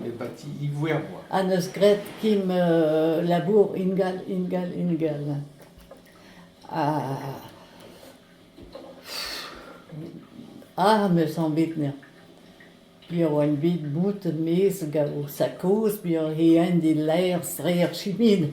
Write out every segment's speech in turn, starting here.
Nebati Iwerzhwa. Ha n'eus graet kemm labour ingal, ingal, ingal. Ah, m'eus anvet neñ. Piv oa bet bout 'maez gant o sakoz, piv he hent e laer, sreer, chimin.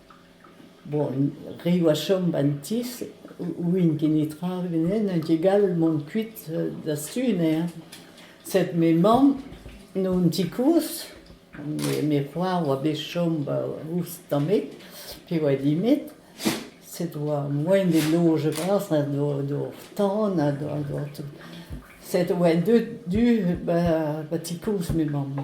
Bon, re oa chom 'ba 'n ti ouien ket netra beneden n'eo ket gall mont kuit da Sune hein. Sed me mamm n'eo 'n ti kozh, me c'hoar oa bet chom 'ba ouzh tamet pe oa dimet, sed oa moain d'e loge bras ha d'hor tan ha d'hor tout. Sed oa deut du 'ba ti kozh me mamm.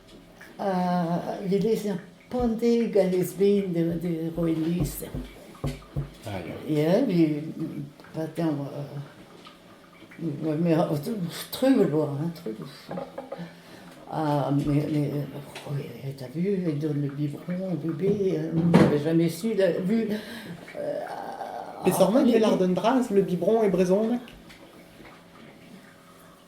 Le lezher Pande gant lez-ben da roiñ lezher. Ya, patin trumm e vo, trumm. Ha ta vu, e donn biberon, bubé, n'avez jamais su, vu... Peseurt mot e lardon bras, le biberon e brezhoneg?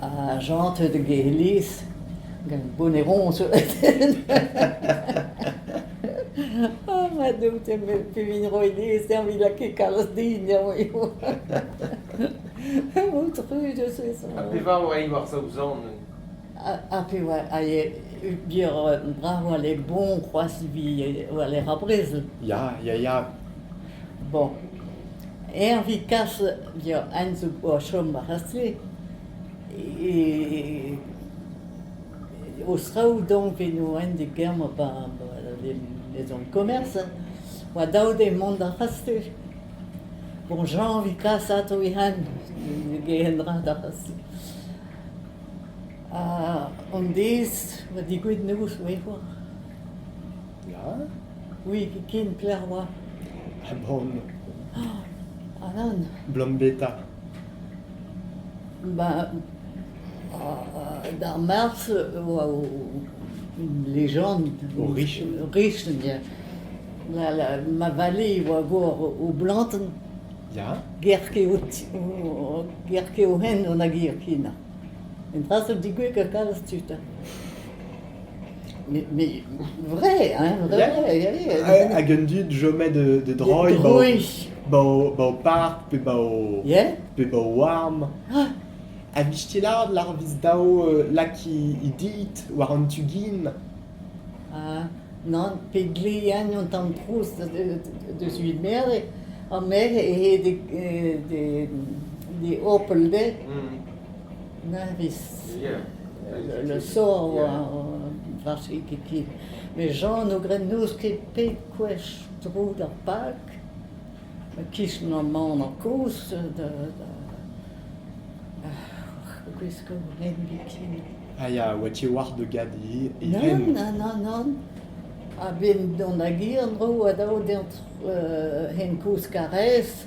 Ha chantet gant Elis, gant bonne ronce. Oh, ma Doue, pevin ro Elis, eñ vit lakaet kalz din, eñ eo. Motru de ce son. Ha pevar oa i war Saozan? Ha pe oa, a e, bier brav oa le bon, c'hoaz, vi oa le rabrezl. Ya, ya, ya. Bon, Herve Casse via Enzo vo a chom ar c'has-se e o straoù donc eno ent e Germa ba les zones commerce oa dav dezhe mont d'ar c'has-se. Bon Jean a vit kas atav e hent ne gehen dra d'ar c'has-se. Ha an deiz oa degouezhet noz 'oe c'hoazh. Ya? Oui, ken kler 'oa. Ha bon. Alan? 'Blam beta. Ba... D'ar Mars e oa o... une légende. O riche. Riche, yeah. La, la, ma vallée oa vor o blantenn. Ya? Gerke o ti- o- gerke o hent on a gir kina. Un dra zo digouek ha kalz tud. Mais, mais vrai, hein, vrai, vrai. Hag un dud jomé de, de droiñ ba o, ba o park pe ba o, pe ba o warm. A blij ti lard lar vis dao euh, lak i dit war an tu gin? Ah, non, pe glean an tamm trouz deus uit merde, an merc'h e he de, de, de opel de. Ne sort warse ket ken. Met Jan o gred n'eus ket pet gwech tro d'ar park. E-kichen aman koz a gwesko ren biken. A ya oa-ti war da gadi e ren? Nann, nann, nann. A-benn dont da gir en-dro a dao d'ezañ hen koz Karrez.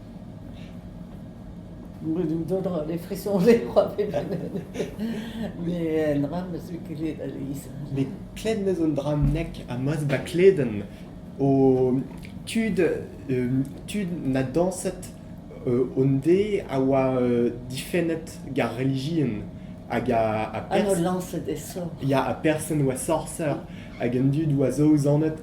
Brudoù dodron e frison e c'hoa bet met un dra 'm eus kelet a-leizh. Met klevet 'm eus un dra nek ha ma'z da kledenn o tud tud na dañset hon-de a oa difennet ga'r relijion hag a a... Ha n'o lañset e sor. Ya ha person 'oa sorser hag an dud 'oa saozanet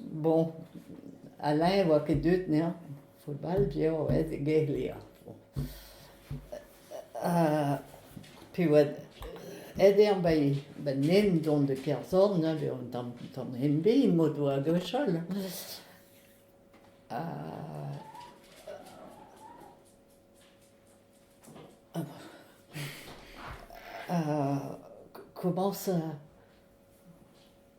Bon, Alain e oa ket deuet 'nezañ football piv a oa e Gaerlea. Pe oa aet eo ba ba nen dont de Kerzorn ivez un tamm tamm ende m'o doa gwechall. Komañs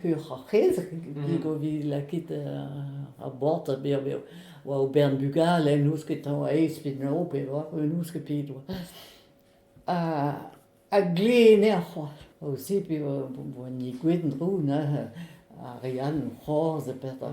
Peoc'h ar c'hez, mhm. o vit lakit uh, ar board a bev eo, oa o bern bugale, n'ouzh ket a oa aes pe no, pe oa, n'ouzh ket pet oa. Ha, ha glene ar c'hoar. Aussi, pe boa ni gwetin roun, Ariane, c'horz, e pet a...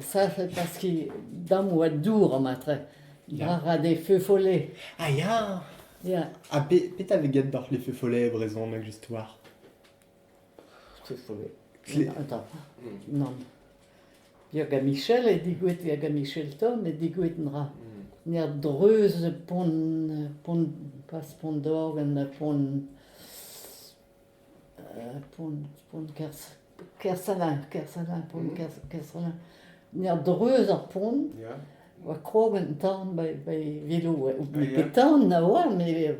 Sac'h paske damm oa dour amatre. Ra ra d'e feu-follet. Ah ya! Ya. Ha petra vez get doc'h les feu-follets e brezhoneg just war? Feu-follet. Attends. Non. Via Michel e digouet via Michel Tom e digouet nra. Ner dreuz pont, pont, pas pont d'org, en pont... Pont-Kersalain, Kersalain, Pont-Kersalain, n'er dreuz ar pont, oa kroaz un tan bai velo, bet tan na oa, met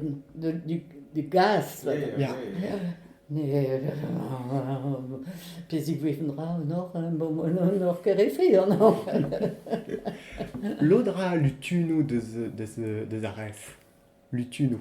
de gaz, ya, peziñ gwevn ra an or, an or Kerefe an or. Lod a ra lutunoù deus ar ref, lutunoù.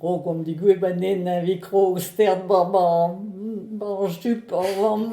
Brogomp digouez ganen evit krog stern war ma, ma jup ar vamm.